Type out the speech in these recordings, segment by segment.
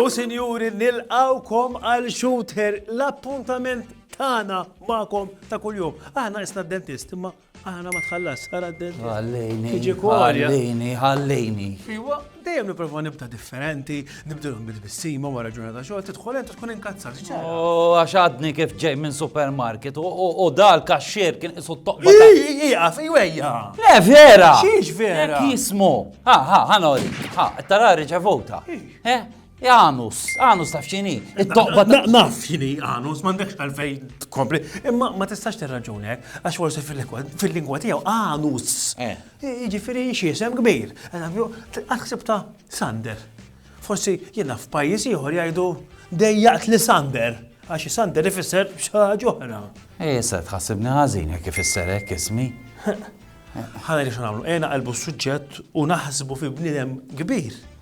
U sinjuri nilqawkom għal shooter l-appuntament tagħna magħkom ta' kuljum. Aħna isna dentist imma Aħna ma tħallas, ara d-dent. Ħallini. Tiġi kolja. Ħallini, ħallini. Iwa, dejjem niprofa nibda differenti, nibdilhom bil-bissima wara ġurnata xogħol, tidħol int tkun inkazzat. Oh, għax għadni kif ġej minn supermarket u dal kaxxier kien isu toqba. Iqaf, iwejja. Le vera. Xiex vera. Jismu. Ha, ha, ħanori. Ha, tara riċevuta. Eh? Janus, Janus taf xini. Naf xini Janus, mandekx għalfej tkompli. Imma ma tistax tirraġuni hekk, eh? għax forsi fil-lingwa tiegħu Janus. Eh. Jiġifieri xi isem kbir. Għaxsib ta' Sander. Forsi jiena f'pajjiż ieħor jgħidu dejjaqt li Sander. Għax Sander ifisser xaħġa oħra. Eh, se tħassibni ħażin jekk ifisser hekk ismi. Ħana li xanamlu, ena qalbu s-suġġett u naħsbu fi bnidem kbir.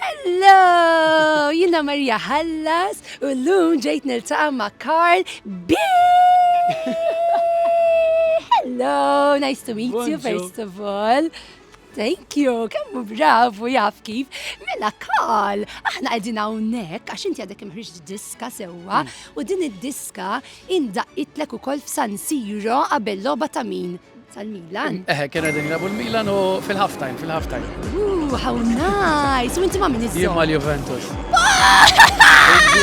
Hello! Jina Marija Hallas u l-lum ġejt niltaqa ma' Karl B. Hello, nice to meet you first of all. Thank you, kemmu bravu jaf kif. Mela Karl, aħna qegħdin hawnhekk għax inti għadek imħriġ diska sewwa hmm. u din id-diska indaqitlek ukoll f'San Siro qabel logħba ta' min? Tal-Milan? Eħe, eh, kien għedin jilabu l-Milan u fil-half time, fil-half time. Ooh, how nice! U inti ma' minn iżżom? Jimma l-Juventus.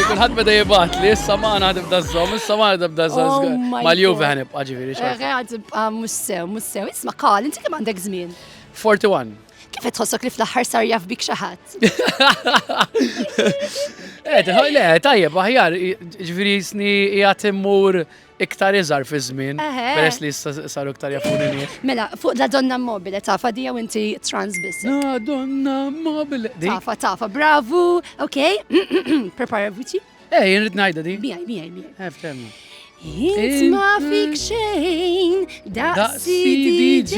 Kulħadd beda jibat li issa ma għana tibda żżomm, issa ma għana tibda żżomm. Oh Mal-Juve għan ibqa' ġifieri. Għad tibqa' mhux sew, mhux sew. Isma' qal, inti kemm għandek żmien? 41. Kif tħossok li fl-aħħar sar jaf bik xi ħadd? Eh, le, tajjeb, aħjar, ġifieri sni qiegħed immur Iktar iżgħar fiż-żmien, peress li issa saru iktar jafuni nies. Mela, fuq la donna mobile, tafa dija u inti trans biss. La donna mobile. Tafa, tafa, bravu, ok, prepara vuċi. Eh, jirrit najda di. Bijaj, bijaj, bijaj. Eh, ftemmu. It's ma fik xejn, daqsi DJ,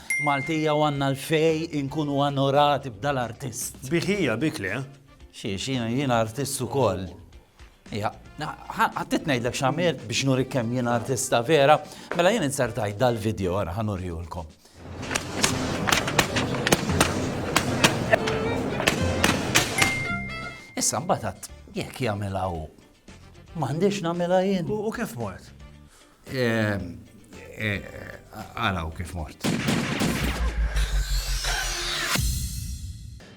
Maltija u għandna l-fej inkunu anorati b'dal artist. Bih hija, bik le? Xiex, jien artist ukoll. Ija, għattit ngħidlek x'għamilt biex nurik kemm jien artista vera, mela jien insertajt dal-video għara ħanurjulkom. Issa mbatat, jekk jagħmilha hu. M'għandix nagħmilha jien. U kif mort? Għalaw eh, eh, kif mort.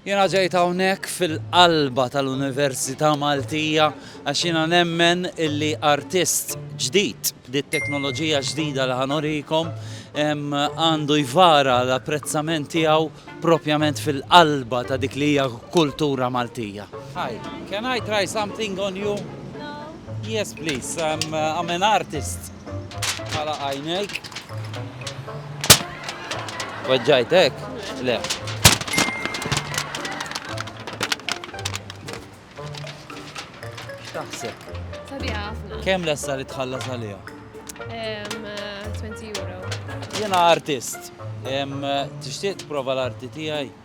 Jena ġejt hawnhekk fil-qalba tal-Università Maltija għax jiena nemmen illi artist ġdid li t-teknoloġija ġdida li ħanorikom għandu jvara l-apprezzament tiegħu propjament fil-qalba ta' dik li hija kultura Maltija. Hi, can I try something on you? Yes please, I'm, uh, I'm an artist. Għala għajnejk. Weġġajtek? Le. X'taħseb? Sabi ħafna. Kemm lessa li tħallas għalija? 20 eh, euro. Jena artist. Eh, tixtieq prova l-arti tiegħi?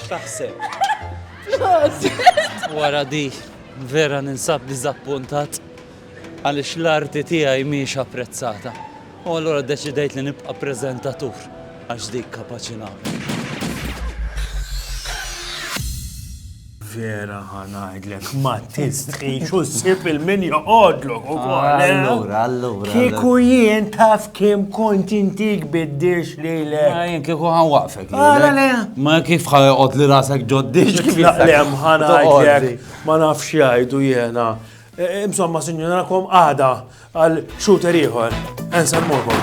X'taħseb? Flus! Wara di, vera ninsab diżappuntat għaliex l-arti tiegħi mhijiex apprezzata u allura ddeċidejt li nibqa' preżentatur għax dik kapaċi nagħmel. Vera ħa ngħidlek ma tistħix u ssib il-min joqgħodlok ukoll. eh? Allura, allura. Kieku jien taf kemm kont intik biddiex lilek. Ma jien kieku ħan waqfek. Għala le. Ma kif ħa joqgħod li rasek ġoddix kif Laqlem ħa ngħidlek ma nafx jgħidu jiena. E, e, Insomma, sinjur, narakom għada għal shooter ieħor. Ensemmukom.